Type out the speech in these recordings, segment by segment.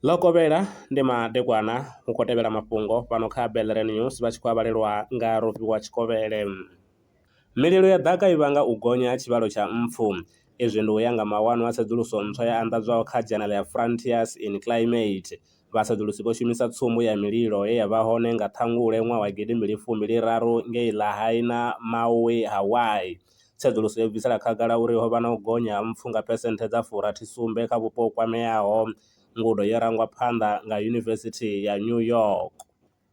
Ḽo kovhela ndi madekwana hu khou tevhela mafhungo fhano kha Belren News vha tshi khou a vhalelwa nga Rofhiwa Tshikovhele. Mililo ya ḓaka i vhanga u gonya ha tshivhalo tsha mpfu. Izwi ndi u ya nga mawanwa a tsedzuluso ntswa ya anḓadzwaho kha dzhenele ya Frontiers in Climate. Vhasedulusi vho shumisa tsumbo ya mililo ye ya vha hone nga Ṱhangule ṅwaha wa gidi mbili fumi ḽi raru ngei Lahaina, Maui, Hawaii. Tsedzuluso yo bvisela khagala uri ho vha na u gonya ha mpfu nga phesenthe dza fu rathi sumbe kha vhupo ho kwameaho. Ngudo yo rangwa phanḓa nga Yunivesithi ya New York.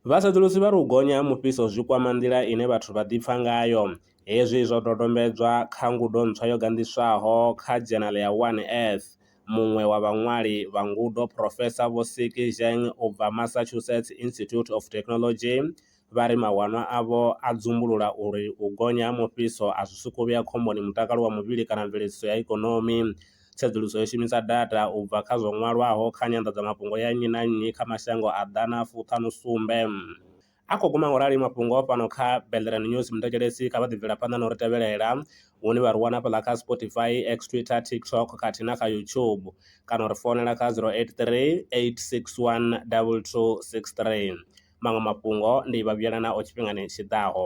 Vhasedzulusi vha ri u gonya ha mufhiso zwi kwama nḓila ine vhathu vha ḓipfa ngayo. Hezwi zwo dodombedzwa kha ngudo ntswa yo ganḓiswaho kha dzhenala ya One Earth. Muṅwe wa vhaṅwali vha ngudo, Phurofesa Vho Siki Zheng u bva Massachusetts Institute of Technology, vha ri mawanwa avho a dzumbulula uri u gonya ha mufhiso a zwi sokou vhea khomboni mutakalo wa muvhili kana mveledziso ya ikonomi. tsedzuluso yo shumisa data ubva kha zwo ṅwalwaho kha nyanḓadzamafhungo ya nnyi na nnyi kha mashango a ḓana fuṱhanu sumbe. A khou guma ngaurali mafhungo a fhano kha Bellerin News muthetshelesi kha vha ḓi bvela phanḓa na uri tevhelela hune vha ri wana fhaḽa kha Spotify, X, Twitter, TikTok khathihi na kha YouTube kana uri founela kha 0838612263. Maṅwe mafhungo ndi vha vhuyelanaho tshifhingani tshi ḓaho.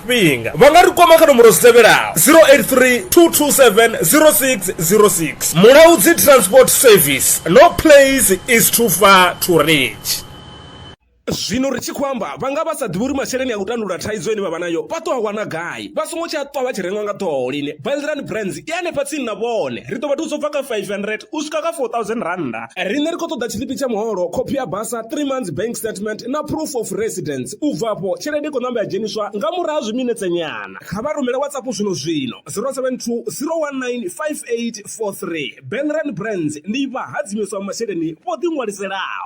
tshifhinga vha nga ri kwama kha nomboro dzi tevhelaho 083 227 0606 mulaudzi transport service no place is too far to reach zwino ri tshi khou amba vha nga vha sa ḓivhi uri masheleni a u tandulula thaidzo ine vha vha nayo vha ṱo a wana gai vha songo tshi a ṱwa vha tshi rengwa nga ṱhoho lini bilderani brands i hanefha tsini na vhone ri ḓo vha thusa u bva kha 500 u swika kha 4000 rannda riṋe ri khou ṱoḓa tshiḽipi tsha muholo khophi ya basa 3 months bank statement na proof of residence U bva afho, tshelede i khou ṋamba ya dzheniswa nga murahu ha zwiminetse nyana. Kha vha rumele WhatsApp zwino-zwino, 072 019 5843. Benren Brands ndi vhahadzimiswa vha masheleni vho ḓiṅwaliselaho.